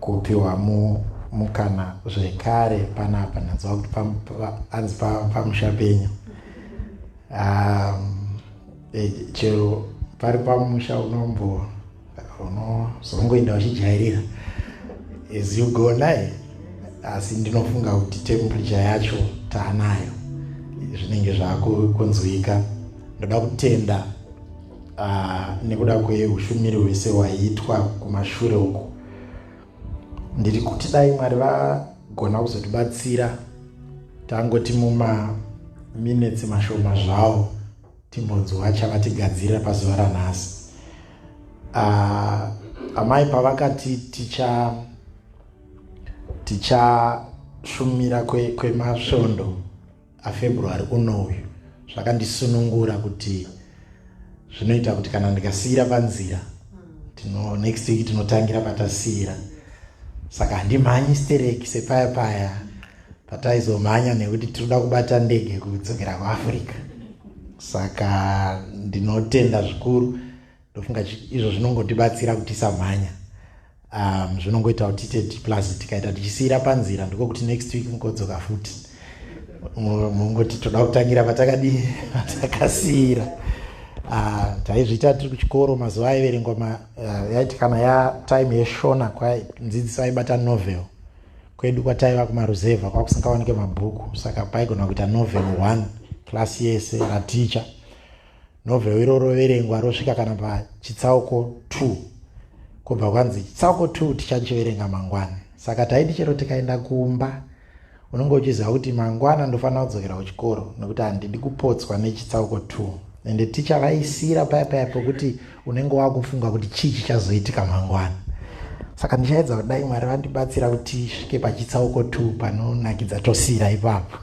kupiwa mu mukana zvekare panapa ndanzwa kuti anzi pamusha penyu um, eh, chero pari pamusha unombo unozongoenda uchijairira as you go naye asi ndinofunga kuti temperature yacho taanayo zvinenge zvakunzwika ndoda kutenda Ah, nekuda kweushumiri hwese hwaiitwa kumashure uku ndiri kuti dai mwari vagona kuzotibatsira tangoti mumaminetsi mashoma zvawo timbonzwa chavatigadzirira pazuva ranhasi ah, amai pavakati ticha tichashumira kwemasvondo kwe aFebruary uno uyu zvakandisunungura kuti zvinoita kuti kana ndikasiira panzira tino next week tinotangira patasiira saka handimhanyi stereki sepaya paya pataizomhanya nekuti tinoda kubata ndege kudzokera kuafrica saka ndinotenda zvikuru ndofunga izvo zvinongotibatsira kuti tisamhanya um, zvinongoita kuti tiite diplus tikaita tichisiyira panzira ndiko kuti next week mukodzoka futi mungoti toda kutangira patakadii patakasiyira uh, taizviita tiri kuchikoro mazuva aiverengwa uh, yaiti kana ya time yeshona kwadzidziso aibata novel kwedu kwataiva kumaruzevha kwakusingawanike mabhuku saka paigona kuita novel one klasi yese raticha novheu iro roverengwa rosvika kana pachitsauko 2 kubva kwanzi chitsauko 2 tichachiverenga mangwana saka taiti chero tikaenda kumba unenge uchiziva kuti mangwana ndofanira kudzokera kuchikoro nekuti handidi kupotswa nechitsauko 2 ende ticha vaisira paya paya pokuti unenge wakufunga kuti chii chichazoitika mangwana saka ndichaedza kudai mwari vandibatsira kuti svike pachitsauko 2 panonakidza tosira ipapo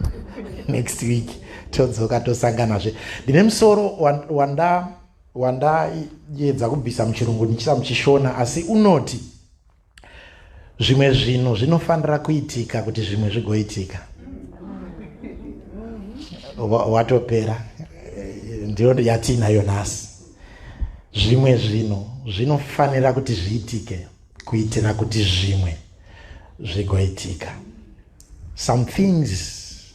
next week todzoka tosanganazve ndine musoro wanda wandayedza kubvisa muchirungu ndichisa muchishona asi unoti zvimwe zvinhu zvinofanira kuitika kuti zvimwe zvigoitika watopera eh, ndiyo yatiinayo nhasi zvimwe zvinhu zvinofanira kuti zviitike kuitira kuti zvimwe zvigoitika some things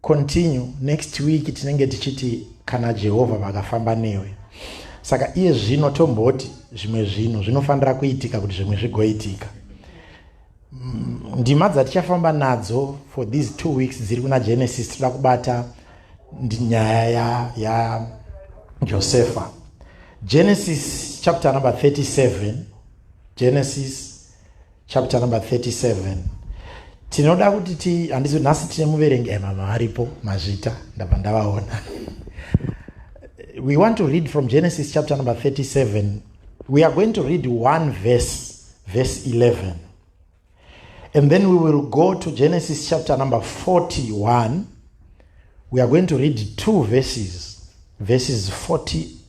continue next week tinenge tichiti kana jehovha vakafamba newe saka iye zvino tomboti zvimwe zvinhu zvinofanira kuitika kuti zvimwe zvigoitika mm, ndima dzatichafamba nadzo for these two weeks dziri kuna genesis tinoda kubata nyaya yajosefa ya genesis chapter number 37 genesis chapter number 37 tinoda kuti ti handizo nhasi tine muverengi emama eh, varipo mazvita ndabva ndavaona we want to read from genesis chapter number 37 we are going to read one verse verse 11 and then we will go to genesis chapter number 41 we are going to read two verses verses 40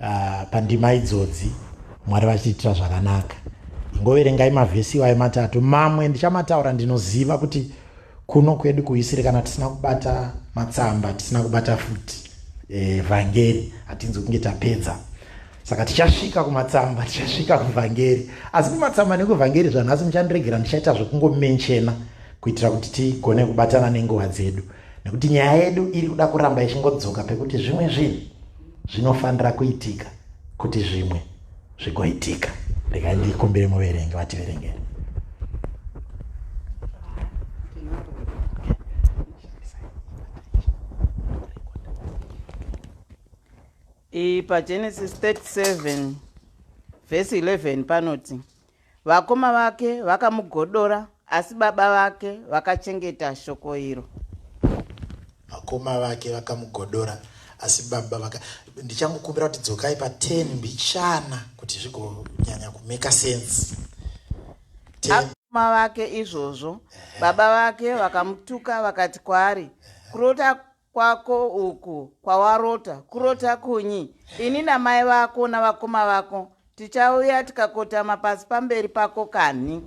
uh, pandima idzodzi mwari vachitiitira zvakanaka ingoverengai mavhesi iwayo matatu mamwe ndichamataura ndinoziva kuti kuno kwedu kuisiri kana tisina kubata matsamba tisina kubata futi eh, vhangeri e, hatinzi kunge tapedza saka tichasvika kumatsamba tichasvika kuvhangeri asi kumatsamba nekuvhangeri zvanhasi muchandiregera ndichaita zvekungomenchena kuitira kuti tigone kubatana nenguva dzedu nekuti nyaya yedu iri kuda kuramba ichingodzoka pekuti zvimwe zvinhu zvinofanira kuitika kuti zvimwe zvigoitika regai ndikumbire muverenge vativerengere pagenesis 37 vhesi 11 panoti Vakoma vake vakamugodora asi baba vake vakachengeta shoko iro. Vakoma vake vakamugodora asi baba vaka ndichangokumbira kuti dzokai pa 10 mbichana kuti zvigonyanya kumeka sense. Vakoma vake izvozvo baba vake vakamutuka vakati kwaari kurota kwako uku kwawarota kurota kunyi ini namai vako navakoma vako tichauya tikakotama pasi pamberi pako kanhi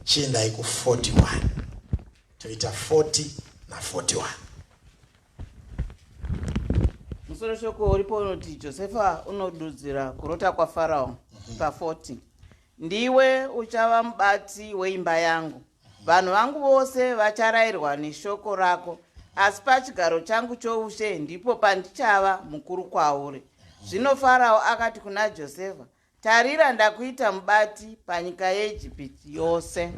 chiendai ku 41 toita 40 na 41 musoro shoko uripo unoti josefa unodudzira kurota kwafarao mm -hmm. pa 40 ndiwe uchava mubati weimba yangu Vanhu vangu vose vacharairwa neshoko rako, asi pachigaro changu choushe ndipo pandichava mukuru kwauri. Zvino Farao akati kuna Josefa, Tarira, ndakuita mubati panyika yeIjipiti yose.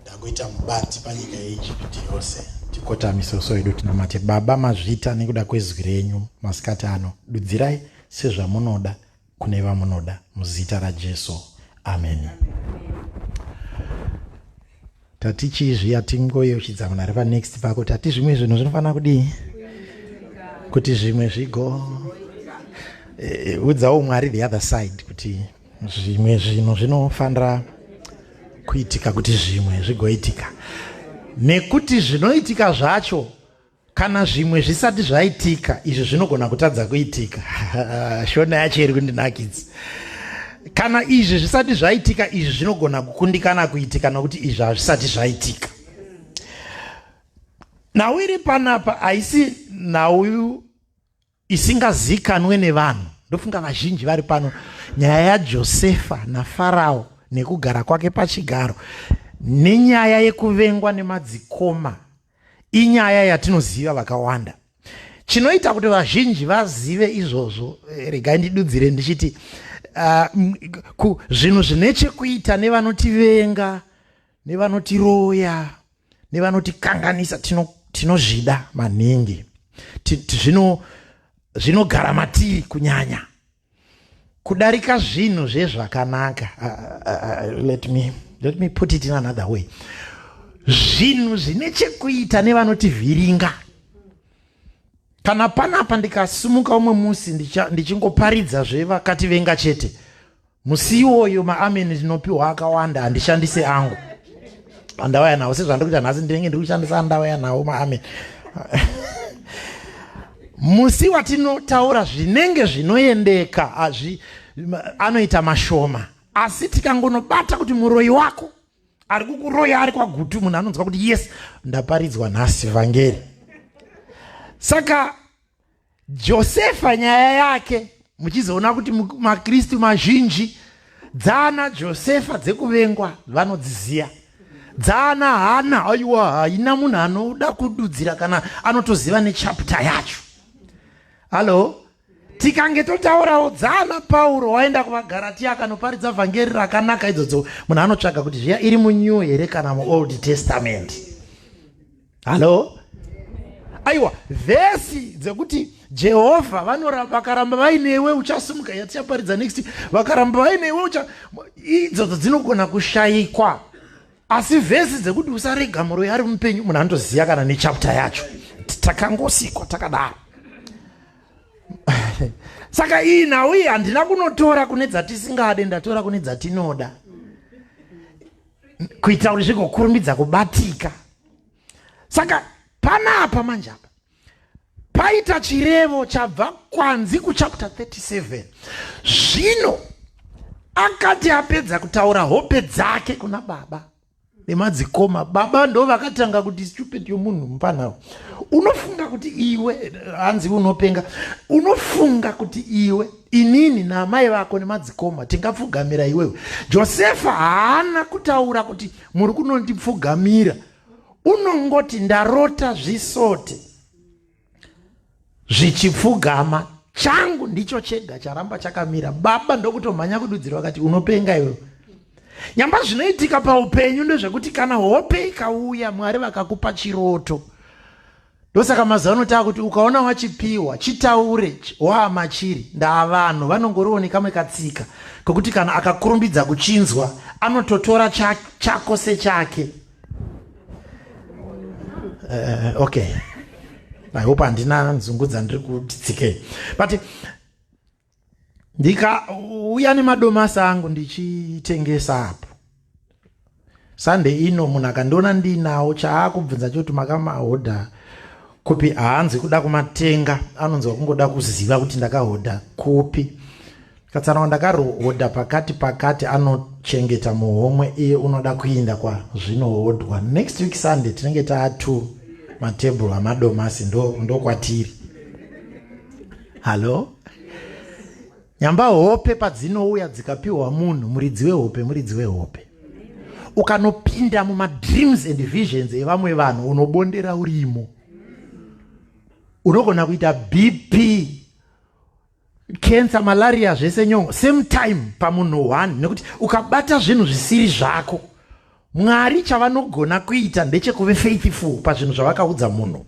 Ndakuita mubati panyika yeIjipiti yose. Tikotamise uso hwedu tinamate. Baba, mazvita nekuda kwezwi renyu masikati ano, dudzirai sezvamunoda kune vamunoda muzita rajesu ameni tati chizvi yatingoyeuchidza munhu ari panext pako tati zvimwe zvinhu zvinofanira kudii kuti zvimwe zvigo eh, eh, udzawo mwari the other side kuti zvimwe zvinhu zvinofanira kuitika kuti zvimwe zvigoitika nekuti zvinoitika zvacho Kana zvimwe zvisati zvaitika, izvi zvinogona kutadza kuitika. Shona yacho iri kundinakidza. Kana izvi zvisati zvaitika, izvi zvinogona kukundikana kuitika nokuti izvi hazvisati zvaitika. Nhau iri panapa haisi nhau isingazikanwe nevanhu ndofunga vazhinji vari pano nyaya yajosefa nafarao nekugara kwake pachigaro nenyaya yekuvengwa nemadzikoma inyaya yatinoziva vakawanda chinoita kuti vazhinji vazive izvozvo eh, regai ndidudzire ndichiti uh, zvinhu zvine chekuita nevanotivenga nevanotiroya nevanotikanganisa tinozvida tino maningi zvinogara zvino matiri kunyanya kudarika zvinhu zvezvakanaka uh, uh, uh, let me let me put it in another way zvinhu zvine chekuita nevanotivhiringa kana panapa ndikasumuka umwe musi ndichingoparidza zvevakativenga chete musi iwoyo maamen ndinopiwa akawanda handishandise angu andauya nawo sezvandiri kuita nhasi ndinenge ndiri kushandisa andauya nawo maamen musi watinotaura zvinenge zvinoendeka azvi anoita mashoma asi tikangonobata kuti muroyi wako ari kukuroya ari kwagutu munhu anonzwa kuti yes ndaparidzwa nhasi vhangeri saka Josefa nyaya yake muchizoona kuti makristu mazhinji dzaana josefa dzekuvengwa vanodziziva dzaana hana aiwa haina munhu anoda kududzira kana anotoziva nechapta yacho hallo tikange totaurawo dzaana pauro waenda kuvagaratiya akanoparidza vhangeri rakanaka idzodzo munhu anotsvaga kuti zviya iri munew here kana muold testament hallo aiwa vhesi dzekuti jehovha vakaramba vainewe uchasimuka yatichaparidza next vakaramba vainewe ucha idzodzo dzinogona kushayikwa asi vhesi dzekuti usarega muroyi ari mupenyu munhu anotoziva kana nechapta yacho takangosikwa takadaro saka iyi nhau iyi handina kunotora kune dzatisingade ndatora kune dzatinoda kuitira kuti zvigokurumidza kubatika saka panapa manje apa paita chirevo chabva kwanzi kuchapter 37 zvino akati apedza kutaura hope dzake kuna baba nemadzikoma baba ndo vakatanga kuti stupid yomunhu mupanawo unofunga kuti iwe hanzi unopenga unofunga kuti iwe inini naamai vako nemadzikoma tingapfugamira iwewe josefa haana kutaura kuti muri kunondipfugamira unongoti ndarota zvisote zvichipfugama changu ndicho chega charamba chakamira baba ndokutomhanya kududzira vakati unopenga iwe nyamba zvinoitika paupenyu ndezvekuti kana hope ikauya mwari vakakupa chiroto ndosaka mazuva ano tava kuti ukaona wachipiwa chitaure waa machiri ndaa vanhu vanongoriwo nekamwe katsika kekuti kana akakurumbidza kuchinzwa anototora chako sechake uh, okay i hope handina nzungu dzandiri kuti tsikei but ndikauya nemadomasi angu ndichitengesa apo sande ino munhu akandiona ndiinawo chaakubvunza choti makamahodha kupi haanzi kuda kumatenga anonzwa kungoda kuziva kuti ndakahodha kupi katsanawa ndakarohodha pakati pakati anochengeta muhomwe iye unoda kuinda kwazvinohodhwa next week sunday tinenge taa two matable amadomasi ndokwatiri ndo Hallo? Nyamba hope padzinouya dzikapiwa munhu muridzi wehope muridzi wehope. Ukanopinda muma dreams and visions evamwe vanhu unobondera urimo. Unogona kuita BP cancer malaria zvese nyongo same time pamunhu one nekuti ukabata zvinhu zvisiri zvako Mwari chavanogona kuita ndechekuve faithful pazvinhu zvavakaudza munhu.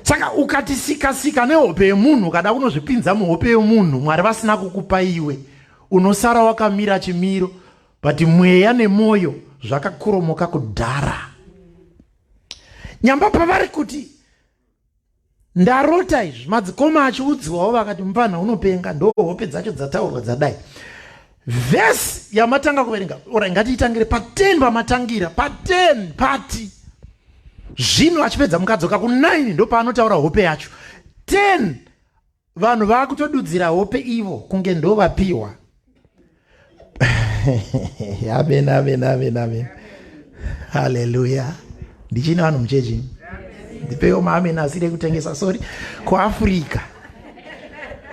Saka ukatisika sika nehope yemunhu ukada kunozvipinza muhope yemunhu Mwari vasina kukupa iwe unosara wakamira chimiro but mweya nemwoyo zvakakuromoka kudhara. Nyamba pavari kuti ndarota izvi madzikoma achiudziwawo vakati mupfanha unopenga ndo hope dzacho dzataurwa dzadai vhesi yamatanga kuverenga ora ngatiitangire paten pamatangira paten pati zvino achipedza mukadzoka ku9 ndopaanotaura hope yacho 10 vanhu vakutodudzira hope ivo kunge ndovapiwa amen amen amen amen haleluya ndichine vanhu muchechi ndipewo maamen asiri ekutengesa sorry kuafrica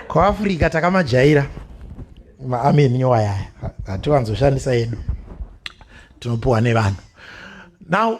kuafrica takamajaira maamen nyowa yaya hatiwanzoshandisa yedu tinopiwa nevanhu now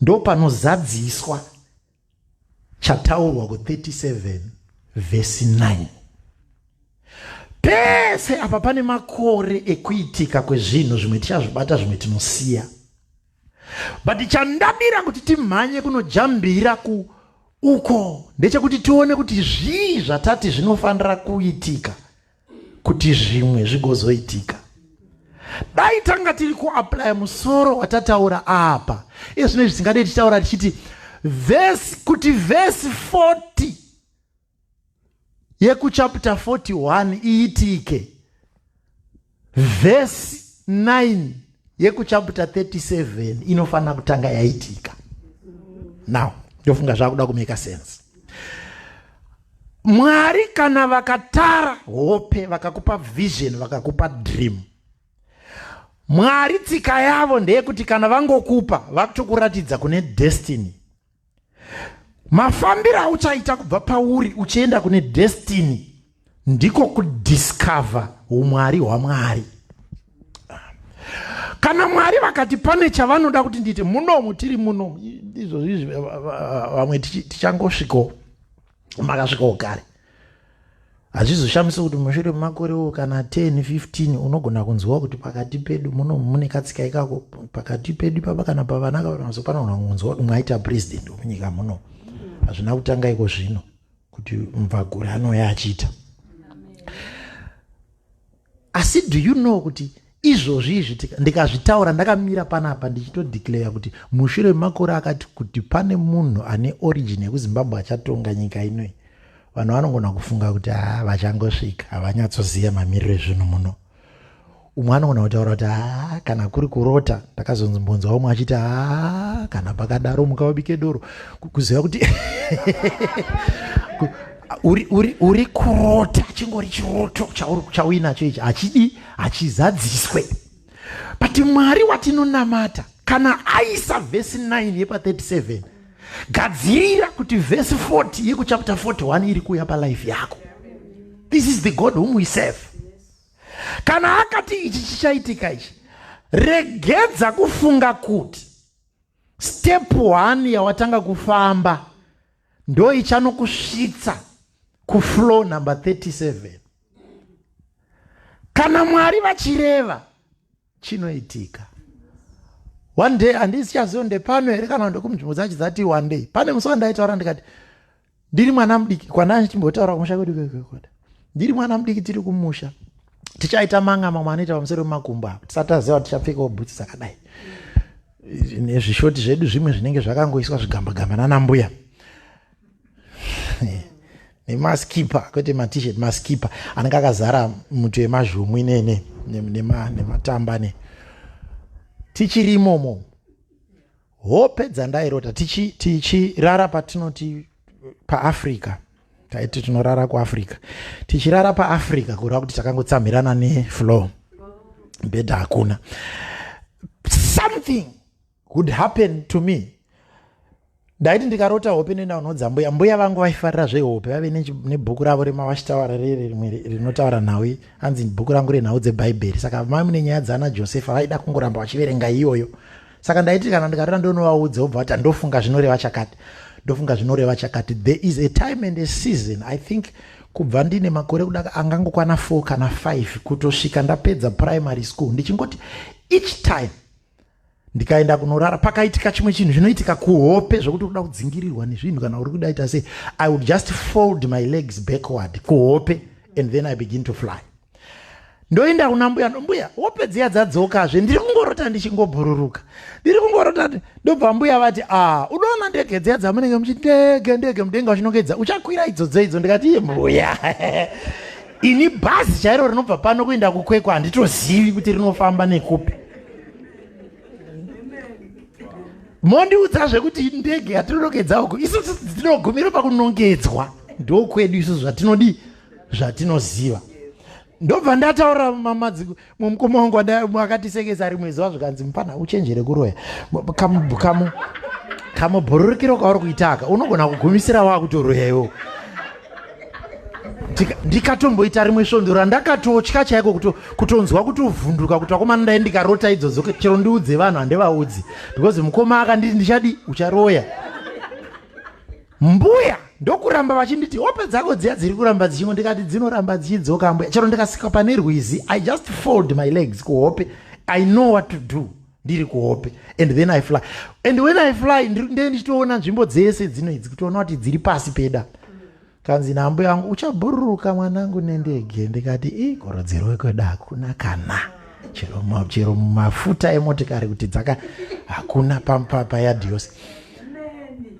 ndopanozadziswa chataurwa ku37 vhesi 9 pese apa pane makore ekuitika kwezvinhu zvimwe tichazvibata zvimwe tinosiya but chandadira kuti timhanye kunojambira ku uko ndechekuti tione kuti zvii zvatati zvinofanira kuitika kuti zvimwe zvigozoitika dai tanga tiri kuaplya musoro watataura apa iye zvine zvisingadei tichitaura tichiti vhesi kuti vhesi 40 yekuchapta 41 iitike vhesi 9 yekuchapta 37 inofanira kutanga yaitika now ndofunga zvakuda kumeka sense Mwari kana vakatara hope vakakupa vision vakakupa dream Mwari tsika yavo ndeyekuti kana vangokupa vakutokuratidza kune destiny mafambiro auchaita kubva pauri uchienda kune destiny ndiko kudiscover umwari hwamwari kana mwari vakati pane chavanoda kuti ndiite munomu tiri munomu izvozvi vamwe tichangosvikawo makasvikawo kare hazvizoshamisa kuti mushure memakorewo kana 10 15 unogona kunzwa kuti pakati pedu muno mune katsika ikako pakati pedu papa kana pavana kavanazo panogona kunzwa kuti mwaita president wemunyika muno hazvina kutanga iko zvino kuti mvagure anouya achiita asi do you know kuti izvozvi izvi ndikazvitaura ndakamira panapa ndichitodeclare kuti mushure memakore akati kuti pane munhu ane origin yekuzimbabwe achatonga nyika inoi vanhu vanongona kufunga kuti haa ah, vachangosvika havanyatsoziva mamiriro ezvinhu muno umwe anogona kutaura kuti haa ah, kana kuri kurota ndakazonzimbonzwa umwe achiti haa ah, kana pakadaro muka wabike doro kuziva kuti uri uri uri kurota chingori chiroto chauri chauinacho ichi hachidi hachizadziswe but mwari watinonamata kana aisa vhesi 9 yepa 37 gadzirira kuti vhesi 40 yekuchapter 41 iri kuuya palife yako this is the god whom we serve kana akati ichi chichaitika ichi regedza kufunga kuti step one yawatanga kufamba ndo ichanokusvitsa kuflow number 37 kana mwari vachireva chinoitika one day handisichazivo ndepano here kana ndokumunzvimbo dzacho dzati one day pane musi wandaitaura ndikati ndiri mwana mudiki kwanani chimbotaura kumusha kwedu kwekwekota ndiri mwana mudiki tiri kumusha tichaita manga mamwe anoita pamusoro pemakumbo apo tisati aziva kuti tichapfekawo bhutsi dzakadai nezvishoti zvedu zvimwe zvinenge zvakangoiswa zvigambagamba nanambuya nemaskipa kwete matishet maskipa anenge akazara muti wemazhumu inene nematamba ne tichiri imomo hope dzandairota tichirara tichi patinoti paafrica taiti tinorara kuafrica tichirara paafrica kureva kuti takangotsamhirana nefloor bhedha hakuna something would happen to me ndaiti ndikarota hope nenda unodza mbuya mbuya vangu vaifarira zvehope vave nebhuku ravo remawashitawara riri rimwe rinotaura nhau hanzi bhuku rangu renhau dzebhaibheri saka mai mune nyaya dzaana josefa vaida kungoramba vachiverenga iyoyo saka ndaiti kana ndikarera ndonovaudza vobva vati ndofunga zvinoreva chakati ndofunga zvinoreva chakati there is a time and a season i think kubva ndine makore kudaka angangokwana four kana five kutosvika ndapedza primary school ndichingoti each time ndikaenda kunorara pakaitika chimwe chinhu zvinoitika kuhope zvekuti kuda kudzingirirwa nezvinhu kana uri kudaita sei i would just fold my legs backward kuhope and then i begin to fly ndoenda kuna mbuya mbuya wopedzea dzadzokazve ndiri kungorota ndichingobhururuka ndiri kungorota ndobva mbuya vati a ah, unoona ndege dziya dzamunenge muchiti ndege ndege mudenga uchinongedza uchakwira idzo dzeidzo ndikati iye mbuya ini bhazi chairo rinobva pano kuenda kukwekwa handitozivi kuti rinofamba nekupi mondiudza zvekuti ndege yatinonongedza uku isu tinogumira pakunongedzwa ndokwedu isu zvatinodii zvatinoziva ndobva ndataura mamadzi mumukoma wangu akatisekesa rimwe zuva zvikanzi mupana uchenjere kuroya kamubhururukiro kauri kuitaka unogona kugumisira wakutoroya iwo ndikatomboita rimwe svondo randakatotya chaiko kutonzwa kutovhunduka kuti vakomana ndai ndikarota idzodzo chero ndiudze vanhu handivaudzi because mukoma akanditi ndichadi ucharoya mbuya ndokuramba vachinditi hope dzako dziya dziri kuramba dzichimwe ndikati dzinoramba dzichidzoka mbuya chero ndikasika pane rwizi i just fold my legs kuhope i know what to do ndiri kuhope and then i fly and when i fly ndee ndichitoona nzvimbo dzese dzino idzi kutoona kuti dziri pasi peda kanzi nambo yangu uchabhururuka mwanangu nendege ndikati i gorodzero wekwedu hakuna kana chero mumafuta emotikari kuti dzaka hakuna payadhiyose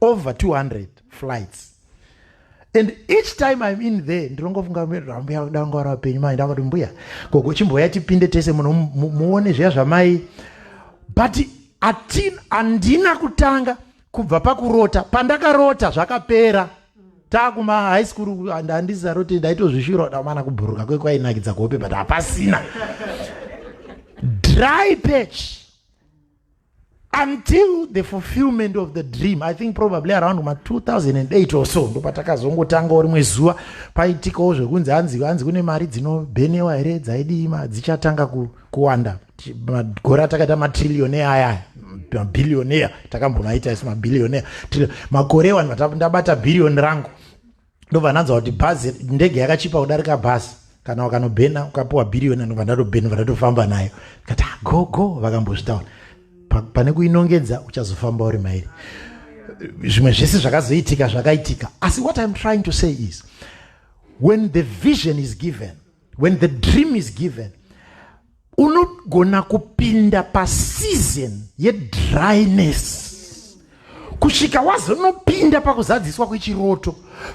over 200 flights and each time im in there ndinongofunga mbuya danga wari vapenyu mai ndakati mbuya gogo chimboya tipinde tese muno muone zviya zvamai but atin handina kutanga kubva pakurota pandakarota zvakapera takuma high school handisaroti ndaitozvishura damana kubhuruka kwekwainakidza kuhope but hapasina dry patch until the fulfillment of the dream i think probably around ma 2008 or so ndopatakazongotangawo rimwe zuva paitikawo zvekunzi hanzi hanzi kune mari dzinobhenewa here dzaidii ma dzichatanga kuwanda magore atakaita matrillionaire aya mabillionaire takambomaita isu mabillionaire makore wani ndabata bhiriyoni rangu ndobva ndanzwa kuti bhazi ndege yakachipa kudarika bhazi kana wakanobhena ukapiwa bhiriyoni anobva ndatobhena bva ndatofamba nayo kati ah, go go vakambozvitaura pane kuinongedza uchazofamba uri mairi zvimwe zvese zvakazoitika zvakaitika asi what iam trying to say is when the vision is given when the dream is given unogona kupinda paseason yedryness kusvika wazonopinda pakuzadziswa kwechiroto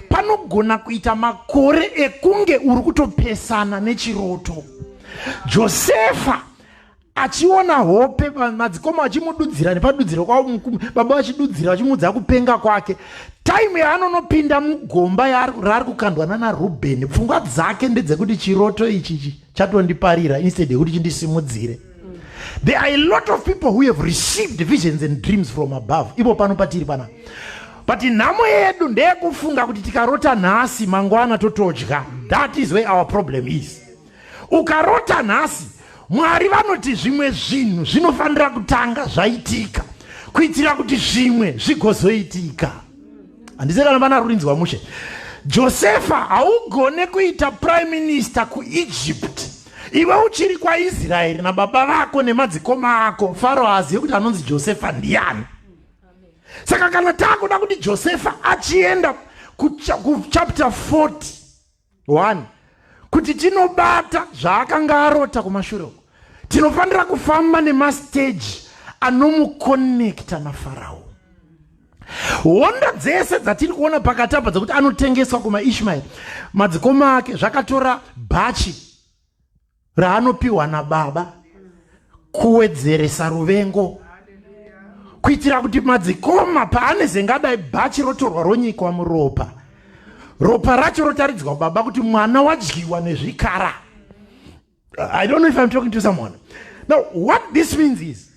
panogona kuita makore ekunge uri kutopesana nechiroto josefa achiona hope madzikoma achimududzira nepadudziro kwavo baba vachidudzira vachimuudza kupenga kwake taimu yaanonopinda mugomba raari kukandwa nana rubeni pfungwa dzake ndedzekuti chiroto ichi chatondiparira instead yekuti chindisimudzire there are a lot of people who have received visions and dreams from above ivo pano patiri pana but nhamo yedu ndeyekufunga kuti tikarota nhasi mangwana totodya that is where our problem is Ukarota nhasi, Mwari vanoti zvimwe zvinhu zvinofanira kutanga zvaitika kuitira kuti zvimwe zvigozoitika. Handise kana vana rurinzwa mushe. Josefa haugone kuita prime minister kuEgypt iwe uchiri kwaIsraeri nababa vako nemadzikoma ako. Faro haazive kuti anonzi Josefa ndiani. Saka kana taakuda kuti Josefa achienda kuchapter 40 1 kuti tinobata zvaakanga arota kumashure uko tinofanira kufamba nemasteji anomukonekta nafarao hondo dzese dzatiri kuona pakati apa dzekuti anotengeswa kumaishmaeri madzikoma ake zvakatora bhachi raanopiwa nababa kuwedzeresa ruvengo kuitira kuti madzikoma paanezengadayi bhachi rotorwa ronyikwa muropa ropa racho rotaridzwa baba kuti mwana wadyiwa nezvikara i don't know if i'm talking to someone now what this means is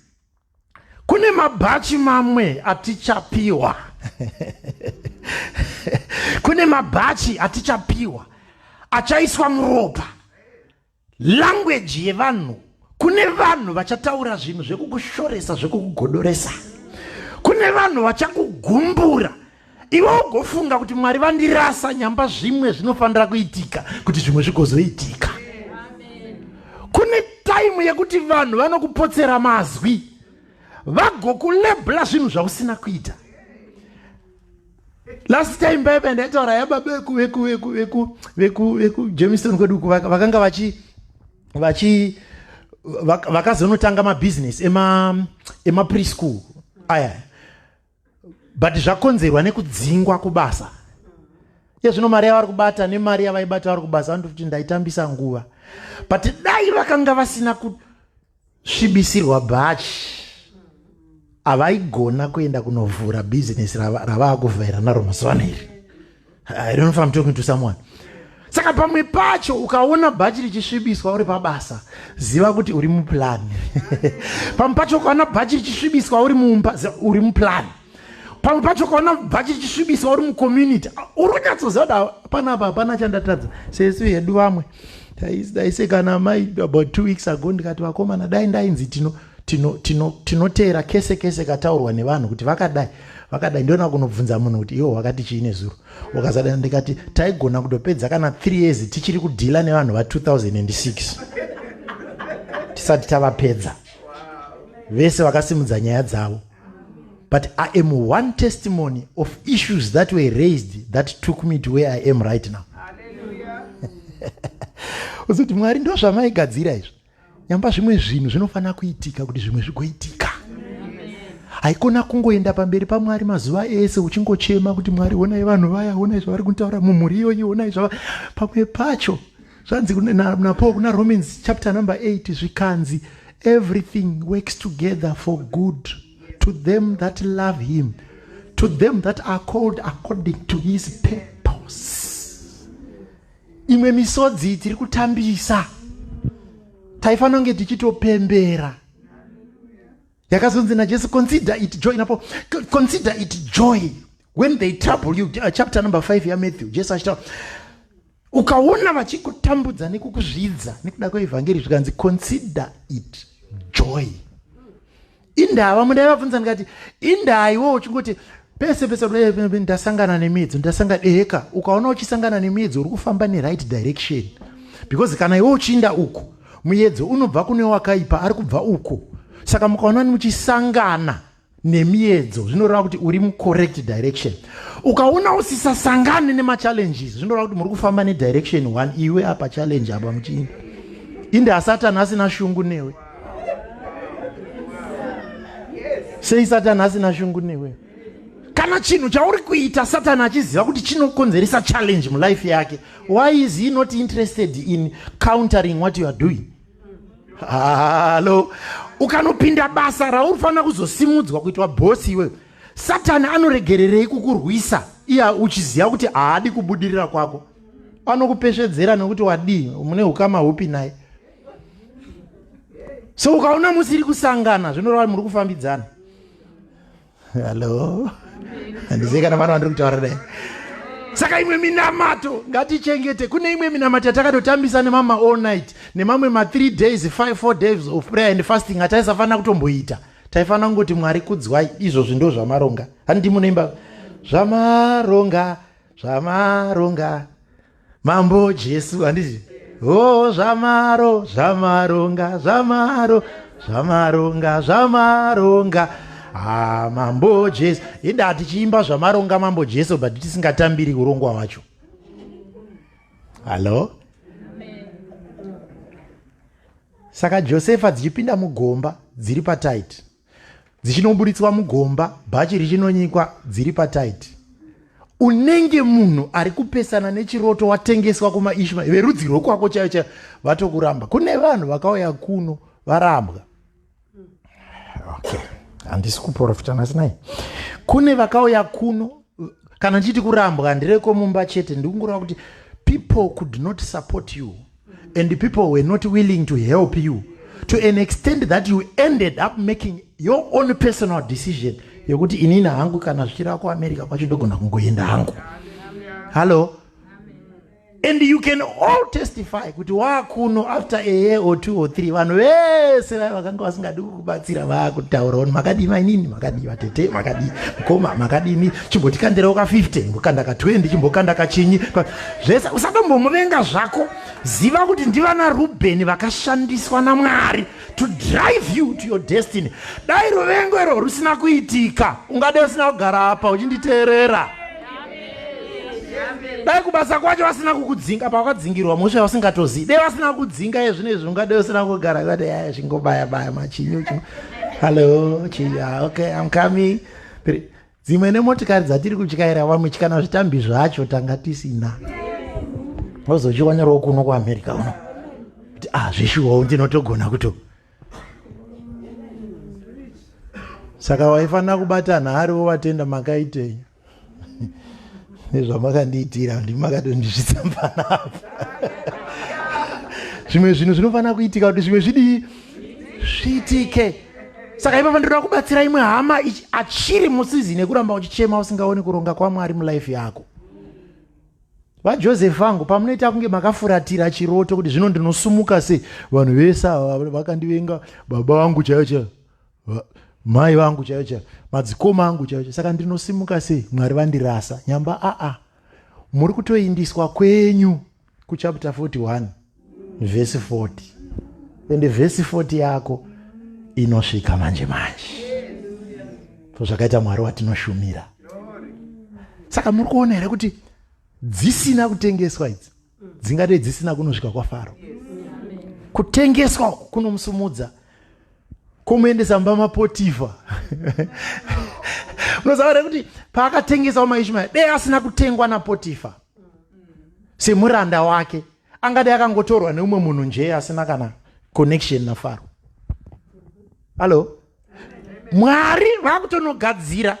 kune mabhachi mamwe atichapiwa kune mabhachi atichapiwa achaiswa muropa langweji yevanhu kune vanhu vachataura zvinhu zvekukushoresa zvekukugodoresa kune vanhu vachakugumbura iwe ugofunga kuti mwari vandirasa nyamba zvimwe zvinofanira kuitika kuti zvimwe zvigozoitika kune taimu yekuti vanhu vanokupotsera mazwi vagokulebla zvinhu zvausina kuita last time baibe ndaitaura yababa vekujameson kwedu vakanga vachi vachi vakazonotanga mabhizinesi emapreschool aya but zvakonzerwa nekudzingwa kubasa iye zvino mari yavari kubata nemari yavaibata vari kubasa vanoto kuti ndaitambisa nguva but dai vakanga vasina kusvibisirwa bhachi havaigona kuenda kunovhura bhizinesi ravava kuvhaira naro mazuva ano iri I don't know if I'm talking to someone. Saka pamwe pacho ukaona bhachi richisvibiswa uri pabasa, ziva kuti uri muplan. pamwe pacho ukaona bhachi richisvibiswa uri mumba, uri muplan. Pamwe pacho ukaona bhachi richisvibiswa uri mucommunity, uri kunyatsoziva kuti hapana apa, hapana chandatadza. Sesu hedu vamwe daise kana mai about two weeks ago ndikati vakomana dai ndainzi tino tinoteera tino, tino kese kese kataurwa nevanhu kuti vakadai vakadai ndiona kunobvunza munhu kuti iwo wakati chii nezuro ukazadana ndikati taigona kutopedza kana 3 years tichiri kudhila nevanhu va 2006 tisati tavapedza vese vakasimudza nyaya dzavo but i am one testimony of issues that were raised that took me to where i am right now uzoti mwari ndozvamaigadzira izvo nyamba zvimwe zvinhu zvinofanira kuitika kuti zvimwe zvigoitika haikona kungoenda pamberi pamwari mazuva ese uchingochema kuti mwari honai vanhu vaya honai zvavari kutaura mumhuri iyoyi honai zvava pamwe pacho zvanzi napo kuna romans chapter number 8 zvikanzi everything works together for good to them that love him to them that are called according to his purpose imwe misodzi tiri kutambisa taifanira kunge tichitopembera yakazonzi najesu consider it joy napo consider it joy when they trouble you uh, chapter number 5 yamatthew jesu achitaura ukaona vachikutambudza nekukuzvidza nekuda kweevhangeri zvikanzi consider it joy indaa vamwe ndaivabvunza ndikati indaa iwo uchingoti pese pese ndasangana nemiedzo ndasangana eheka ukaona uchisangana nemiedzo uri kufamba neright direction because kana iwe uchiinda uku muedzo unobva kune wakaipa ari kubva uko saka mukaona muchisangana nemiedzo zvinoreva kuti uri mucorrect direction ukaona usisasangane nemachallenges zvinoreva kuti muri kufamba nedirection one iwe apa challenge apa muchiinda inda asatani asina shungu newe sei satani asina shungu newe kana chinhu chauri kuita satani achiziva kuti chinokonzeresa challenge mulife yake why is he not interested in countering what you are doing hallo ukanopinda basa rauri fanira kuzosimudzwa kuitwa bhosi iwewe satani anoregererei kukurwisa iya uchiziva kuti haadi kubudirira kwako anokupesvedzera nekuti wadii mune ukama hupi naye so ukaona musiri kusangana zvinoreva kuti muri kufambidzana hallo handizivi kana vana vandiri kutaura dai saka imwe minamato ngatichengete kune imwe minamato yatakatotambisa nemama all night nemamwe ma3 days 54 days of prayer and fasting ataisafanira kutomboita taifanira kungoti mwari kudzwai izvozvi ndo zvamaronga handii munoimba zvamaronga zvamaronga mambo jesu handiti o oh, zvamaro zvamaronga zvamaro zvamaronga zvamaronga ah, mambo jesu inda tichiimba zvamaronga mambo jesu but tisingatambiri urongwa wacho hallo saka josefa dzichipinda mugomba dziri patight dzichinoburitswa mugomba bhachi richinonyikwa dziri pataiti unenge munhu ari kupesana nechiroto watengeswa kumaishma verudzi rwekwako chaiyo chaiyo vatokuramba kune vanhu vakauya kuno varambwa okay handisi kuprofita nhasi nai kune vakauya kuno kana ndichiti kurambwa handireko mumba chete ndikungureva kuti people could not support you and people were not willing to help you to an extent that you ended up making your own personal decision yekuti inini hangu kana zvichireva kuamerica kwacho ndogona kungoenda hangu hallo and you can all testify kuti waakuno after a year or two or three vanhu vese vaya vakanga vasingadi kukubatsira vaakutaura on makadii mainini makadii vatete makadii mukoma makadini chimbotikadirauka 50 chimbokandaka 20 chimbokandaka chinyi zvese usatombomuvenga zvako ziva kuti ndivana rubheni vakashandiswa namwari to drive you to your destiny dai ruvengo irwo rusina kuitika ungade usina kugara apa uchinditeerera dai kubasa kwacho vasina kukudzinga pawakadzingirwa mhosva yausingatozivi dai vasina kukudzinga ezvino izvi ungade usina kugara vati ya zvingobaya baya machinyu hallo chinya okay im coming dzimwe nemotikari dzatiri kutyaira vamwe chikana zvitambi zvacho tanga tisina ozochionerawo kuno kuamerica uno kuti ah zveshuwawo ndinotogona kuto saka waifanira kubata nhari wovatenda makaitei nezvamakandiitira ndimi makatondizvitsambanapo zvimwe zvinhu zvinofanira kuitika kuti zvimwe zvidii zviitike saka ipapa ndoda kubatsira imwe hama achiri musizini yekuramba uchichema usingaoni kuronga kwamwari mulife yako vajoseph vangu pamunoita kunge makafuratira chiroto kuti zvino ndinosumuka sei vanhu vese ava vakandivenga baba vangu chaiyo chaiyo mai vangu chaiyo chaiyo madzikoma angu chaiyo chaiyo saka ndinosimuka sei mwari vandirasa nyamba aa muri kutoindiswa kwenyu kuchapter 41 vhesi 40 ende vhesi 40 yako inosvika manje manje so zvakaita mwari watinoshumira saka muri kuona here kuti dzisina kutengeswa idzi dzingadei dzisina kunosvika kwafaro kutengeswa kunomusumudza komuendesa mumba mapotifa unoziva here kuti paakatengesawo maishmaeri dei asina kutengwa napotifa semuranda wake angadai akangotorwa neumwe munhu njee asina kana connection nafaro hallo mwari vakutonogadzira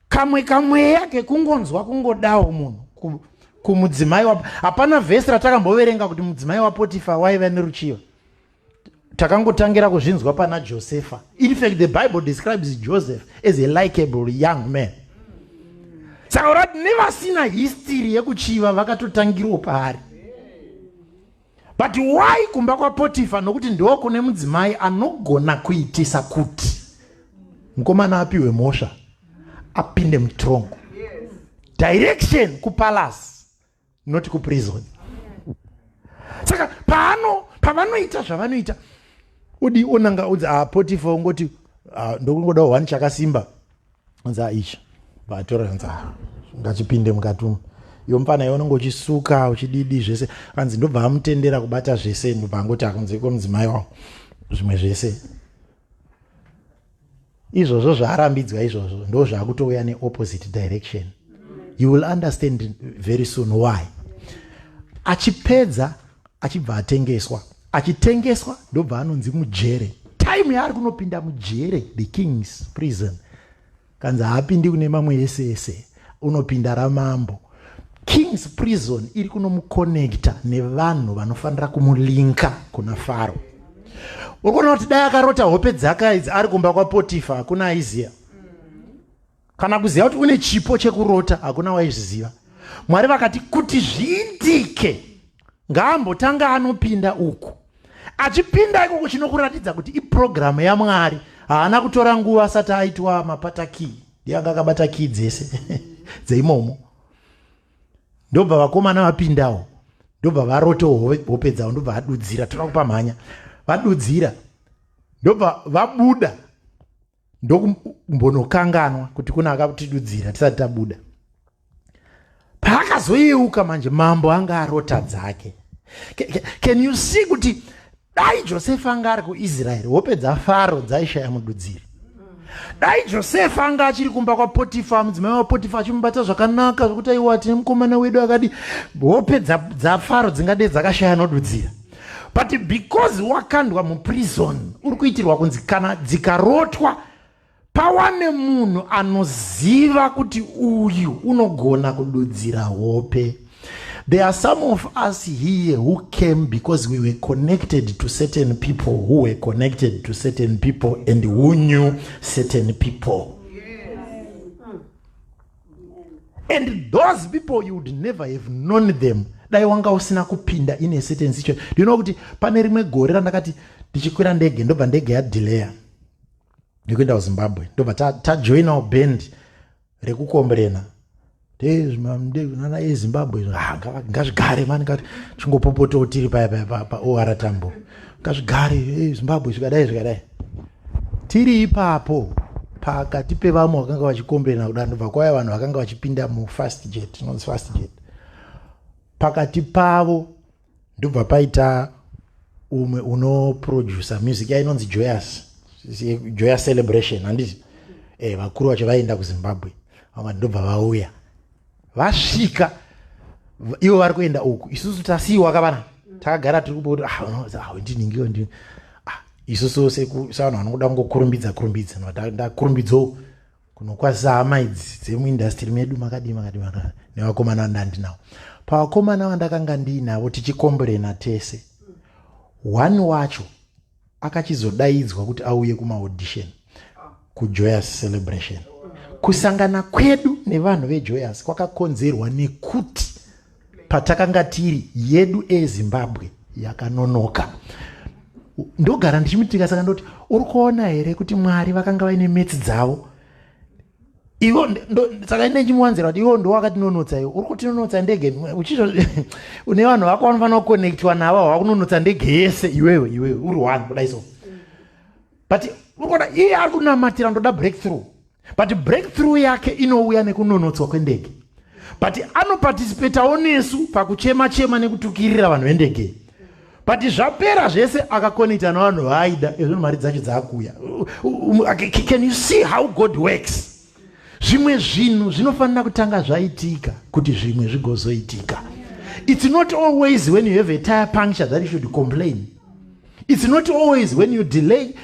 kamwe kamweya kekungonzwa kungodawo munhu kumudzimai hapana vhesi ratakamboverenga kuti mudzimai wapotifa waiva neruchiva takangotangira kuzvinzwa pana josefa in fact the bible describes joseph as a likable young man saka urati nevasina history yekuchiva vakatotangirwo paari but why kumba kwapotifa nokuti ndiwo kune mudzimai anogona kuitisa kuti mukomana apiwe mhosva apinde mutrongo direction kupalasi not kuprison saka paano pavanoita zvavanoita udi onanga udzi a ah, potifa ungoti ah, ndokungoda one chakasimba anzi aicha ah, vatora anzi ngachipinde mukati umu iyo mfana iyo unenge uchisuka uchididi zvese anzi ndobva amutendera kubata zvese ndobva angoti akunzeko mudzimai wavo zvimwe zvese izvozvo zvaarambidzwa izvozvo ndo zvaakutouya neopposite direction you will understand very soon why achipedza achibva atengeswa achitengeswa ndobva anonzi mujere time yaari kunopinda mujere the kings prison kanzi haapindi kune mamwe ese ese unopinda ramambo kings prison iri kunomukonekta nevanhu vanofanira kumulinka kuna faro uri kuona kuti dai akarota hope dzaka idzi ari kumba kwapotifa hakuna aiziva kana kuziva kuti une chipo chekurota hakuna waizviziva mwari vakati kuti zviitike ngaambotanga anopinda uku achipinda ikoko chinokuratidza kuti iprogiramu yamwari haana kutora nguva asati aitwa mapata kii ndianga akabata kii dzese dzeimomo ndobva vakomana vapindawo ndobva varotewo hope dzavo ndobva vadudzira toda kupa mhanya vadudzira ndobva vabuda ndokumbonokanganwa kuti kuna akatidudzira tisati tabuda paakazoyeuka manje mambo anga arota dzake can you see kuti dai josefa anga ari kuisraeri hope dzafaro dzaishaya mududziri dai josefa anga achiri kumba kwapotifa mudzimai wapotifa achimubata zvakanaka zvekuti aiwa tine mukomana wedu akadi hope dzafaro dzingade dzakashaya nodudzira but because wakandwa muprison uri kuitirwa kunzi kana dzikarotwa pawane munhu anoziva kuti uyu unogona kududzira hope there are some of us here who came because we were connected to certain people who were connected to certain people and who knew certain people and those people you would never have known them dai wanga usina kupinda in a certain situation do you know kuti pane rimwe gore randakati ndichikwira ndege ndobva ndege yadelayer nekuenda kuzimbabwe ndobva tajoinawo ta band rekukombrena nana ezimbabwe ah, ngazvigare mani kati chingopopotawo tiri paya paya paora tambo ngazvigare zimbabwe zvikadai zvikadai Tiri ipapo pakati pevamwe vakanga vachikomberena kudaro ndobva kwauya vanhu vakanga vachipinda mufast jet inonzi fast jet pakati pavo ndobva paita umwe unoproducer music yainonzi joyous joyous celebration handiti e, vakuru vacho vaienda kuzimbabwe vamati ndobva vauya vasvika ivo vari kuenda uku isusu tasiiwa kavana takagara tiri kubodo ndinhingiwo ah, ndi ah, ah, isusu sevanhu vanokuda kungokurumbidza kurumbidza ndakurumbidzawo kunokwazisa hama idzi dzemuindastiri medu makadii makadii makadii nevakomana vandandinawo pavakomana vandakanga ndiinavo tichikomborena tese one wacho akachizodaidzwa kuti auye kumaaudition kujoyous celebration kusangana kwedu nevanhu vejoyous kwakakonzerwa nekuti patakanga tiri yedu ezimbabwe yakanonoka ndogara ndichimutika saka ndoti uri kuona here kuti mwari vakanga vaine metsi dzavo ivo saka ine chimuwanzira kuti ivo ndowakatinonotsa ivo uri kutinonotsa ndege uchizvo une vanhu vako vanofanira kuconnectiwa navo havakunonotsa ndege yese iwewe iwewe uri one kudai so but unoona iye ari kunamatira ndoda break through but break through yake inouya nekunonotswa kwendege but anoparticipatawo nesu pakuchema chema nekutukirira vanhu vendege but zvapera zvese akakonecta navanhu vaaida ezvo mari dzacho dzaakuuya can you see how god works zvimwe zvinhu zvinofanira kutanga zvaitika kuti zvimwe zvigozoitika it's not always when you have a tire puncture that you should complain it's not always when you delay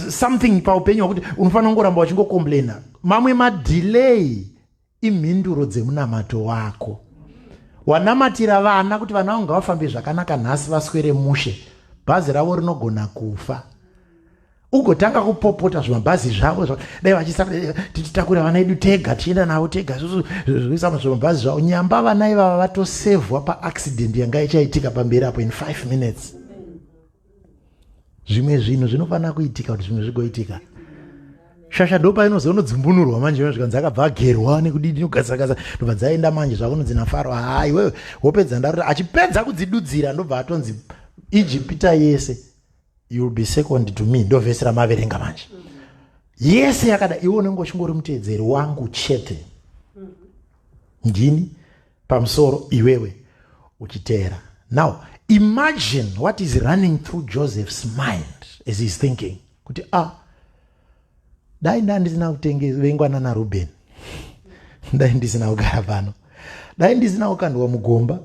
something paupenyu wakuti unofanira kungoramba wachingocomplaina mamwe madelay Imhinduro dzemunamato wako. Wanamatira vana kuti vana vangu ngavafambe zvakanaka nhasi vaswere mushe. Bhazi ravo rinogona kufa. Ugotanga kupopota zvimabhazi zvavo zva dai vachisa eh, tichitakura vana edu tega tichienda navo tega susu zvikuisa muzvimabhazi zvavo. Nyamba vana ivava vatosevhwa paaccident yanga ichaitika pamberi apo in 5 minutes. zvimwe zvinhu zvinofanira kuitika kuti zvimwe zvigoitika shasha ndopa inozo unodzumbunurwa manje ino zvikanzi akabva agerwa nekudii dinogadzirakadza ndobva dzaenda manje zvakunonzi nafaro haa iwewe wopedza ndarota achipedza kudzidudzira ndobva atonzi ijipita yese youll be second to me ndovhesi ramaverenga manje yese yakada iwe unenge uchingori muteedzeri wangu chete ndini pamusoro iwewe uchiteera now imagine what is running through joseph's mind as heis thinking kuti a ah, dai ndandisina kutengevengwa nana ruben dai ndisina kugara pano dai ndisina kukandwa mugomba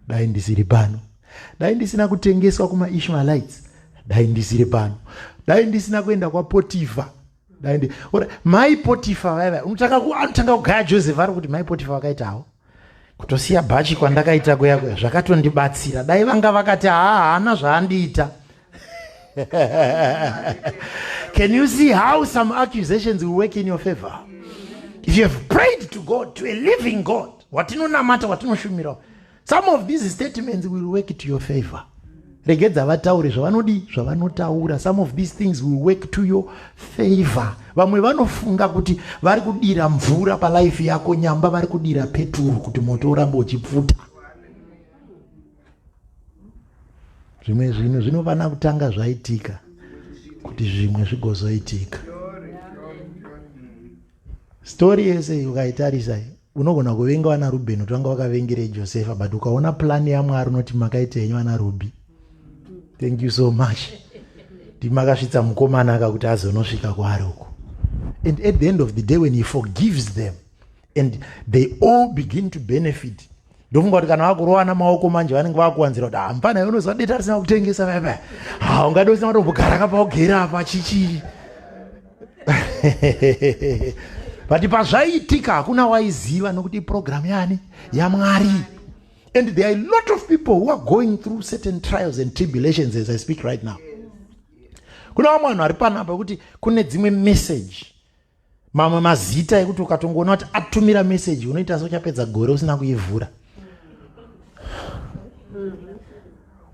dai ndisiri pano dai ndisina kutengeswa kumaishmaelites dai ndisiri pano dai ndisina kuenda kwapotifa daindi ora mai potifa vaiva unotanga anotanga kugaya joseph ari kuti mai potifa vakaitawo kutosiya bhachi kwandakaita kuya kuya zvakatondibatsira dai vanga vakati haa haana zvaandiita can you see how some accusations will work in your favor if you have prayed to god to a living god watinonamata watinoshumirawo some of these statements will work to your favor regedza vataure zvavanodii zvavanotaura some of these things will work to your favor vamwe vanofunga kuti vari kudira mvura palife yako nyamba vari kudira peturu kuti moto uramba uchipfuta zvimwe zvinhu zvinofana kutanga zvaitika kuti zvimwe zvigozoitika story yese iyi ukaitarisa iyi unogona kuvenga vana rubheni kuti vanga vakavengerei josefa but ukaona plani yamwari unoti makaita henyu vana rubhi thank you so much ndimakasvitsa mukomana aka kuti azonosvika kwaari uko and at the end of the day when he forgives them and they all begin to benefit ndofunga kuti kana vakurovana maoko manje vanenge vakuwanzira kuti hampana ah, unoziva deta risina kutengesa vaiva ha ungadi usina matombogara ka paugera apa chichii but pazvaiitika hakuna waiziva nokuti iprogramu yani yamwari and there are a lot of people who are going through certain trials and tribulations as i speak right now kuna vamwe vanhu vari panapa kuti kune dzimwe message mamwe mazita ekuti ukatongoona kuti atumira meseji unoita seuchapedza gore usina kuivhura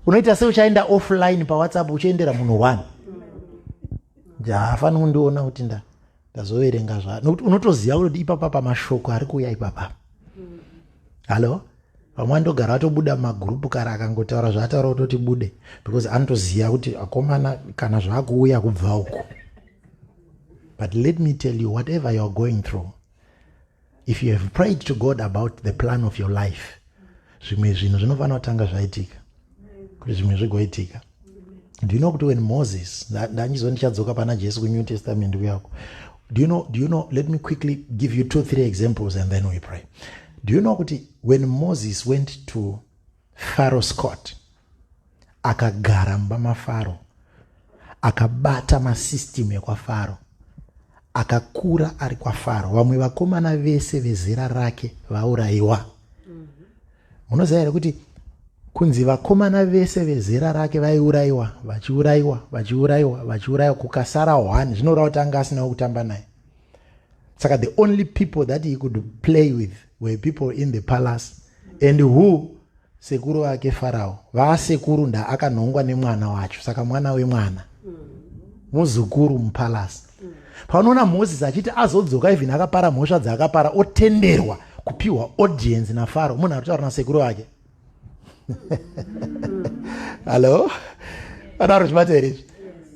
unoita seuchaenda offline pawhatsapp uchiendera munhu one jaafanira kundiona kuti nda ndazoverenga zva nokuti unotoziva kuti ipapa pamashoko ari kuuya ipapa hallo vamwe andogara atobuda mumagurupu kare akangotaura zvaataura kutoti bude because anotoziva kuti akomana kana zvaakuuya kubva uko But let me tell you, whatever you're going through, if you have prayed to God about the plan of your life, zvimwe zvinhu zvinofanira kutanga zvaitika kuti zvimwe zvigoitika do you know kuti when moses ndanyizo ndichadzoka pana jesu kunew testament kuyako do you know, do you know let me quickly give you two three examples and then we pray do you know kuti when moses went to Faro Scott akagara mumba maFaro, akabata masystem ekwaFaro, akakura ari kwaFaro. Vamwe vakomana vese vezera rake vaurayiwa. Munoziva here kuti kunzi vakomana vese vezera rake vaiurayiwa vachiurayiwa vachiurayiwa vachiurayiwa kukasara one zvinoreva kuti anga asinawo kutamba naye saka the only people that he could play with were people in the palace and who sekuru vake farao vaasekuru nda akanhongwa nemwana wacho saka mwana wemwana muzukuru mupalasi paunoona moses achiti azodzoka even akapara mhosva dzaakapara otenderwa kupiwa audience nafaro munhu aritaura nasekuru vake hallo vataura zvibata here izvi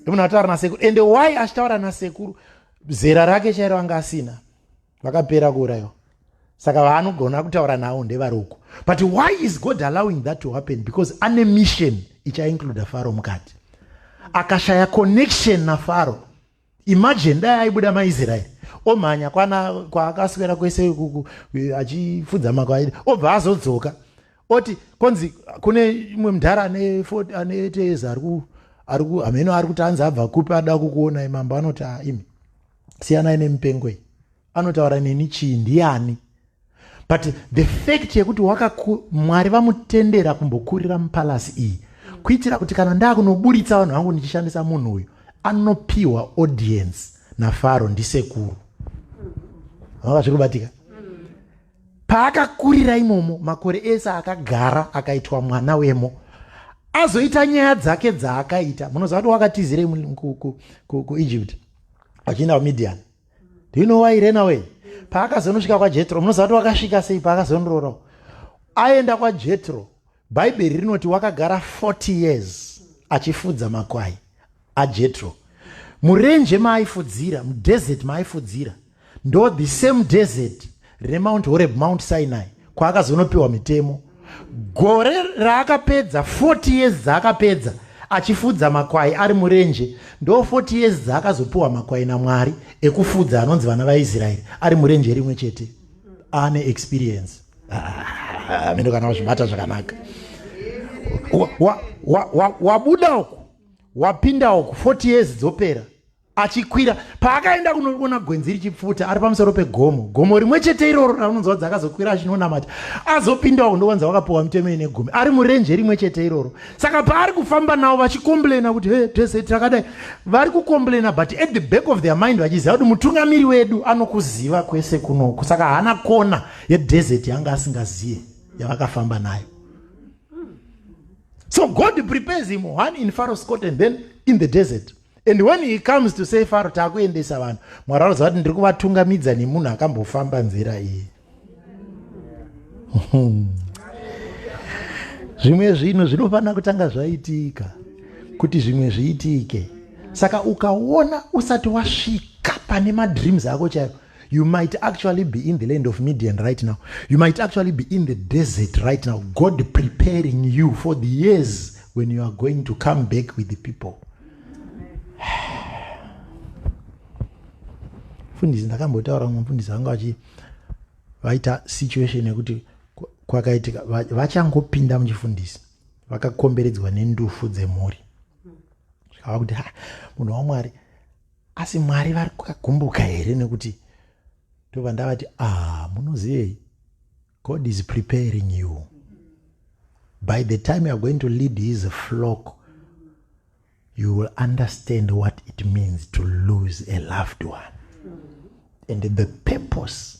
munhu aritaura nasekuru ende why achitaura nasekuru zera rake chairo anga asina vakapera kuurayiwa saka vaanogona kutaura navo ndevari uko but why is god allowing that to happen because ane mission ichaincluda faro mukati akashaya connection nafaro imagine dai aibuda maisraeri omhanya kwana kwaakaswera kwese ikuku achifudza makwaidi obva azodzoka oti konzi kune imwe mdhara ane fort ane tees ari ku ari ku hameno ari kuti anzi abva kupi ada kukuonai mambo anoti a ah, imi siyanai nemipengo iyi anotaura neni chii ndiani but the fact yekuti wakaku mwari vamutendera kumbokurira mupalasi iyi kuitira kuti kana ndakunoburitsa vanhu vangu ndichishandisa munhu uyu anopiwa audience nafaro ndisekuru vanga zviri kubatika Paakakurira imomo makore ese akagara akaitwa mwana wemo azoita nyaya dzake dzaakaita munoziva kuti wakatizirei kuegypt achienda kumidian do you know why rena way paakazonosvika kwajetro munoziva kuti wakasvika sei paakazonororawo aenda kwajetro Bhaibheri rinoti wakagara 40 years achifudza makwai aJetro. Murenje maaifudzira, mudesert maaifudzira, ndo the same desert reMount Horeb, Mount Sinai, kwaakazonopiwa mitemo. Gore raakapedza 40 years dzaakapedza achifudza makwai ari murenje, ndo 40 years dzaakazopiwa makwai naMwari ekufudza anonzi vana vaIsraeri ari murenje rimwe chete. Ane experience. ah, mino kana wazvibata zvakanaka wabuda uku wapinda uku 40 years dzopera achikwira paakaenda kunoona gwenzi richipfuta ari pamusoro pegomo gomo rimwe chete iroro raunonzwa kuti akazokwira achinonamata azopinda uku ndowanza wakapiwa mitemo ine gumi ari murenje rimwe chete iroro saka paari kufamba navo vachikomblena kuti he tese takadai vari kukomblena but at the back of their mind vachiziva kuti mutungamiri wedu anokuziva kwese kunoku saka haana kona yedesert yanga asingaziye yavakafamba nayo so god prepares him one in faro scot and then in the desert and when he comes to say faro taakuendesa vanhu mwari anoziva kuti ndiri kuvatungamidza nemunhu akambofamba nzira iyi zvimwe zvinhu zvinofanira kutanga zvaitika kuti zvimwe zviitike saka ukaona usati wasvika pane madreams ako chaivo You might actually be in the land of Midian right now. You might actually be in the desert right now. God preparing you for the years when you are going to come back with the people. Fundisi ndakambotaura mumwe mfundisi vanga vachi vaita situation yekuti kwakaitika vachangopinda muchifundisi vakakomberedzwa nendufu dzemhuri zvikava kuti ha munhu wamwari asi mwari vari kukagumbuka here nekuti ndobva ndavati ah munozivei god is preparing you by the time youare going to lead his flock you will understand what it means to lose a loved one and the purpose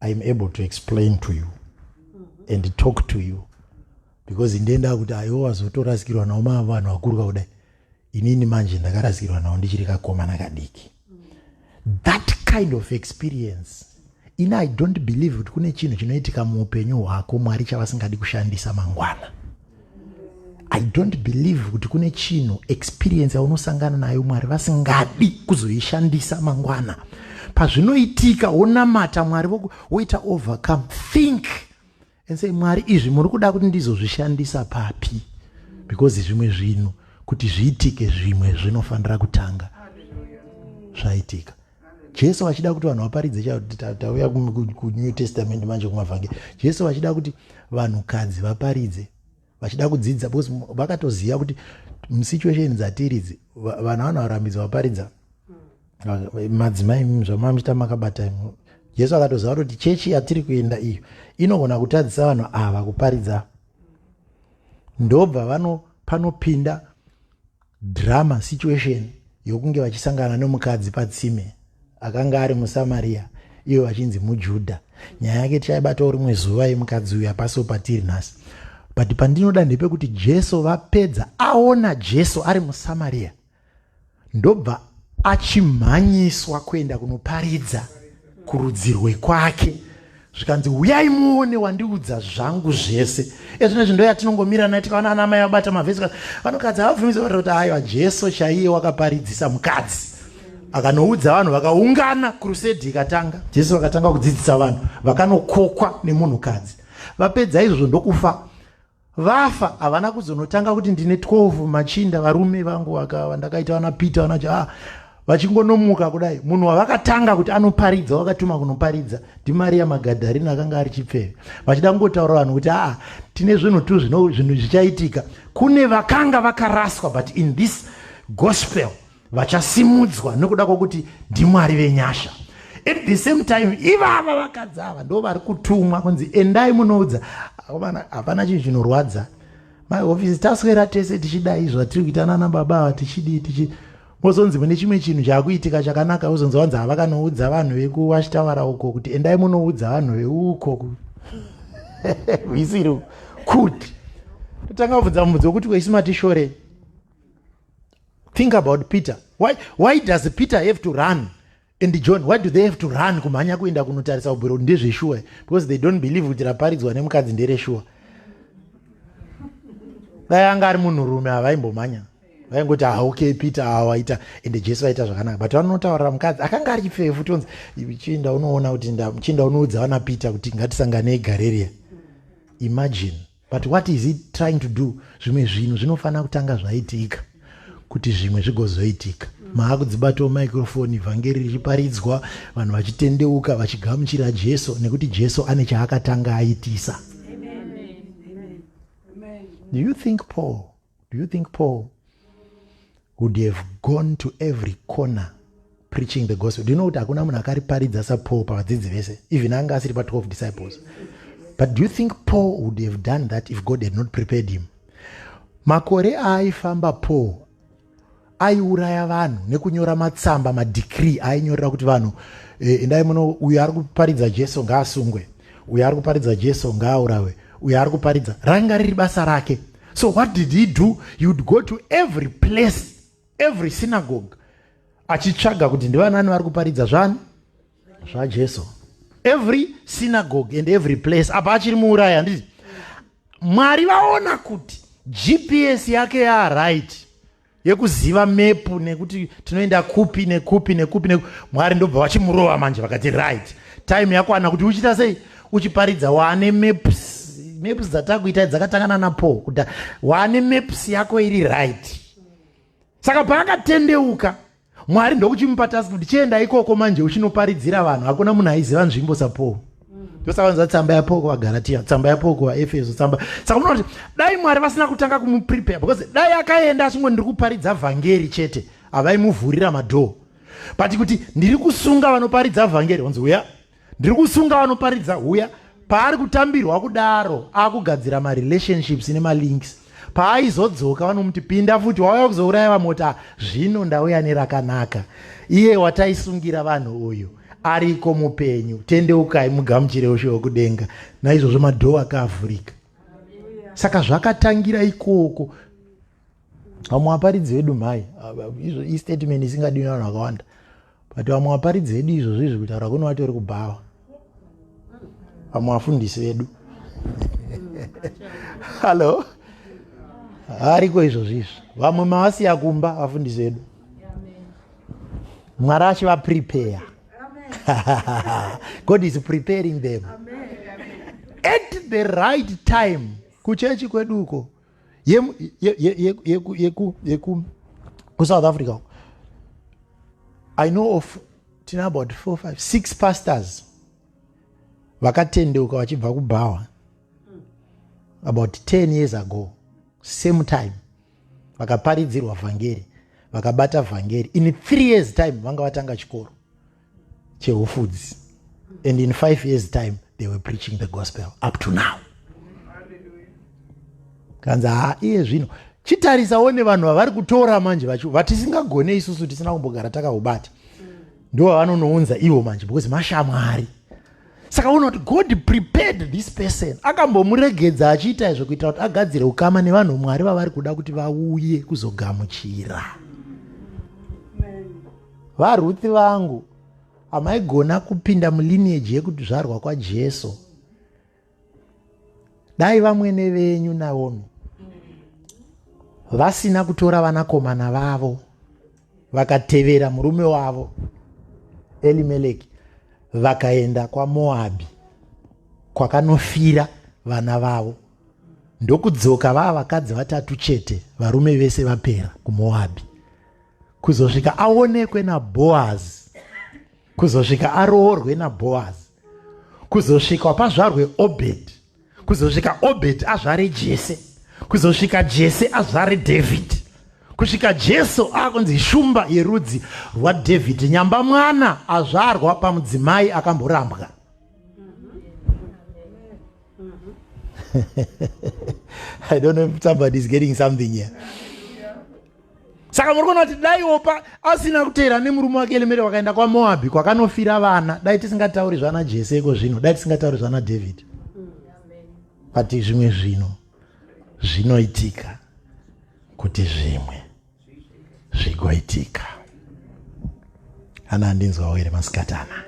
i am able to explain to you and talk to you because ndenda kuti aiwo wazotorasikirwa nawo ma vanhu vakuru kakudai inini manje ndakarasikirwa nawo ndichiri kakomana kadiki that kind of experience ini i don't believe kuti kune chinhu chinoitika muupenyu hwako mwari chavasingadi kushandisa mangwana i don't believe kuti kune chinhu experience yaunosangana nayo mwari vasingadi kuzoishandisa mangwana pazvinoitika wonamata mwari woita overcome think and say mwari izvi muri kuda kuti ndizozvishandisa papi because zvimwe zvinhu kuti zviitike zvimwe zvinofanira kutanga zvaitika jesu vachida kuti vanhu vaparidze chaivo tauya kunew testament manje kumavhangeri jesu vachida kuti vanhukadzi vaparidze vachida kudzidza because vakatoziva kuti musituation dzatiridzi vana vanhu varambidzwa vaparidza madzimai zvamamita makabata jesu akatoziva kuti chechi yatiri kuenda iyo inogona kutadzisa vanhu ava kuparidza ndobva vano panopinda Drama situation yokunge vachisangana nomukadzi patsime akanga ari muSamaria iyo vachinzi muJudha. Nyaya yake tichaibatawo rimwe zuva yemukadzi uyu apaso patiri nhasi. But pandinoda ndepekuti Jesu vapedza aona Jesu ari muSamaria ndobva achimhanyiswa kuenda kunoparidza kurudzirwe kwake zvikanzi huyai muone wandiudza zvangu zvese ezvino izvi ndoyatinongomira naye tikaona ana amai abata mavhesi vanokadzi havabvumidza vatira kuti aiwa jesu chaiye wakaparidzisa mukadzi akanoudza vanhu vakaungana krusedi ikatanga jesu vakatanga kudzidzisa vanhu vakanokokwa nemunhukadzi vapedza izvozvo ndokufa vafa havana kuzonotanga kuti ndine 12 machinda varume vangu vakava ndakaita vana peter vana ja ah, vachingonomuka kudai munhu wavakatanga kuti anoparidza wakatuma kunoparidza ndimariya magadharina akanga ari chipfeve vachida kungotaura vanhu kuti aa ah, tine zvinhu tu zvinhu zvichaitika kune vakanga vakaraswa but in this gospel vachasimudzwa nokuda kwokuti ndimwari venyasha at the same time ivava vakadzi ava ndo vari kutumwa kunzi endai munoudza hapana chinhu chinorwadza mahofisi taswera tese tichidai zvatiri kuita nana baba ava tichidii tichi mozonzi mune chimwe chinhu chaakuitika chakanaka uzonzi wanzi havakanoudza vanhu vekuwachitawara uko kuti endai munoudza vanhu veuko visiri kuti totanga kubvunza mubvunzi wekuti kweisu matishorei think about peter why, why does peter have to run and john why do they have to run kumhanya kuenda kunotarisa ubwiro kuti ndezveshuwa because they don't believe kuti raparidzwa nemukadzi ndereshuwa dai anga ari munhurume havaimbomhanya vaingoti ah okay peter awaita ende jesu vaita zvakanaka but vanotaurira mukadzi akanga ari chipfefu tonzi chinda unoona kuti chinda unoudza vana peter kuti ngatisanganei gareria imagine But what is he trying to do? Zvimwe zvinhu zvinofanira kutanga zvaitika kuti zvimwe zvigozoitika maakudzibatawo microfoni vhangeri richiparidzwa vanhu vachitendeuka vachigamuchira jesu nekuti jesu ane chaakatanga aitisa do you think paul Do you think Paul would have gone to every corner preaching the gospel? Do you know kuti hakuna munhu akariparidza saPaul pavadzidzi vese even anga asiri pa12 disciples? But do you think Paul would have done that if God had not prepared him? Makore aaifamba Paul aiuraya vanhu nekunyora matsamba madecree ainyorera kuti vanhu eh, endai muno uyo ari kuparidza jesu ngaasungwe uyo ari kuparidza jesu ngaaurawe uyo ari kuparidza ranga riri basa rake so what did he do he would go to every place every synagogue achitsvaga kuti ndivanani vari kuparidza zvani zvajesu every synagogue and every place apa achiri muurayi handiti mwari vaona kuti gps yake yaaright yekuziva mepu nekuti tinoenda kupi nekupi nekupi neku mwari ndobva vachimurova manje vakati right time yakwana kuti uchiita sei uchiparidza waane maps maps dzatakuita dzakatangana napaul kuda waane maps yako iri right saka paakatendeuka Mwari ndokuchimupa task kuti chienda ikoko manje uchinoparidzira vanhu hakuna munhu aiziva nzvimbo saPaul ndosavanza tsamba yaPaul kuvaGalatia tsamba yaPaul kuvaEfeso tsamba saka munoona kuti dai Mwari vasina kutanga kumuprepare because dai akaenda achingo ndiri kuparidza vhangeri chete havaimuvhurira madhoo but kuti ndiri kusunga vanoparidza vhangeri onzi uya Ndiri kusunga anoparidza huya paari kutambirwa kudaro akugadzira marelationships nemalinks paaizodzoka vanomuti pinda futi wauya kuzouraya vamota zvino ndauya nerakanaka iye wataisungira vanhu uyu ariko mupenyu tendeukai mugamuchire ushe wekudenga naizvozvo madhoo akaavhurika saka zvakatangira ikoko vamwe vaparidzi vedu mhai izvo istatement isingadiwi navanhu vakawanda but vamwe vaparidzi vedu izvozvo izvi kutaura kuno vatori kubhawa vamwe vafundisi vedu hallo ariko izvozvo izvi vamwe mavasiya kumba vafundisi vedu mwari achivaprepare god is preparing them at the right time kuchechi kweduko yekusouth africa uko i know of tine about four five six pastors vakatendeuka vachibva kubhawa about ten years ago same time vakaparidzirwa vhangeri vakabata vhangeri in three years time vanga vatanga chikoro chewhole foods and in five years time they were preaching the gospel up to now kanzi haa iye zvino chitarisawo nevanhu vavari kutora manje vacho vatisingagone isusu tisina kumbogara takaubata ndo vavanonounza ivo manje because mashamwari saka uona kuti god prepared this person akambomuregedza achiita izvo kuitira kuti agadzire ukama nevanhu mwari vavari kuda kuti vauye kuzogamuchira VaRuth vangu, amaigona kupinda mulineage yekuzvarwa kwaJesu. Dai vamwene venyu Naomi vasina kutora vanakomana vavo vakatevera murume wavo Elimeleki vakaenda kwaMoabhi kwakanofira vana vavo ndokudzoka vava vakadzi vatatu chete varume vese vapera kuMoabhi. kuzosvika aonekwe naboazi kuzosvika aroorwe naboazi kuzosvika pazvarwe obhedhi kuzosvika obhedhi azvare jese kuzosvika jese azvare dhavhidhi kusvika jesu akunzi shumba yerudzi rwadhavhidhi nyamba mwana azvarwa pamudzimai akamborambwa i don't know if somebody is getting something here saka muri kuona kuti dai opa asina kuteera nemurume wake elemere wakaenda kwamoabhi kwakanofira vana dai tisingatauri zvana jese iko zvino dai tisingatauri zvana david but zvimwe zvino zvinoitika kuti zvimwe zvigoitika ana andinzwawo here masikatana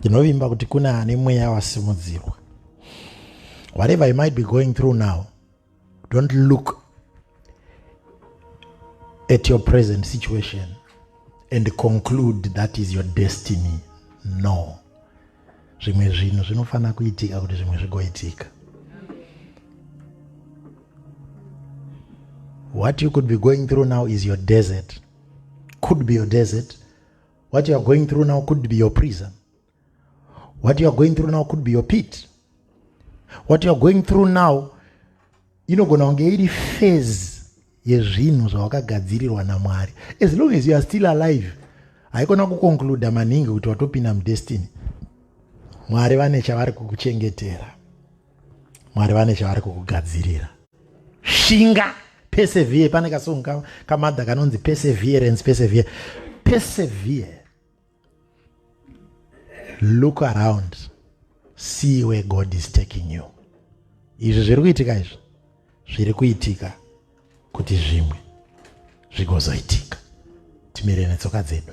ndinovimba kuti kune ane mweya wasimudzirwa whatever you might be going through now don't look at your present situation and conclude that is your destiny no zvimwe zvinhu zvinofanira kuitika kuti zvimwe zvigoitika what you could be going through now is your desert could be your desert what you are going through now could be your prison what you are going through now could be your pit what you are going through now inogona kunge iri phase yezvinhu zvawakagadzirirwa namwari as long as you are still alive haikona kukonkluda maningi kuti watopinda mudestiny mwari vane chavari kukuchengetera mwari vane chavari kukugadzirira shinga persevere pane kasongo kamadha kanonzi perseverance persevere persevere look around see where god is taking you izvi zviri kuitika izvi zviri kuitika kuti zvimwe zvigozoitika timire netsoka dzedu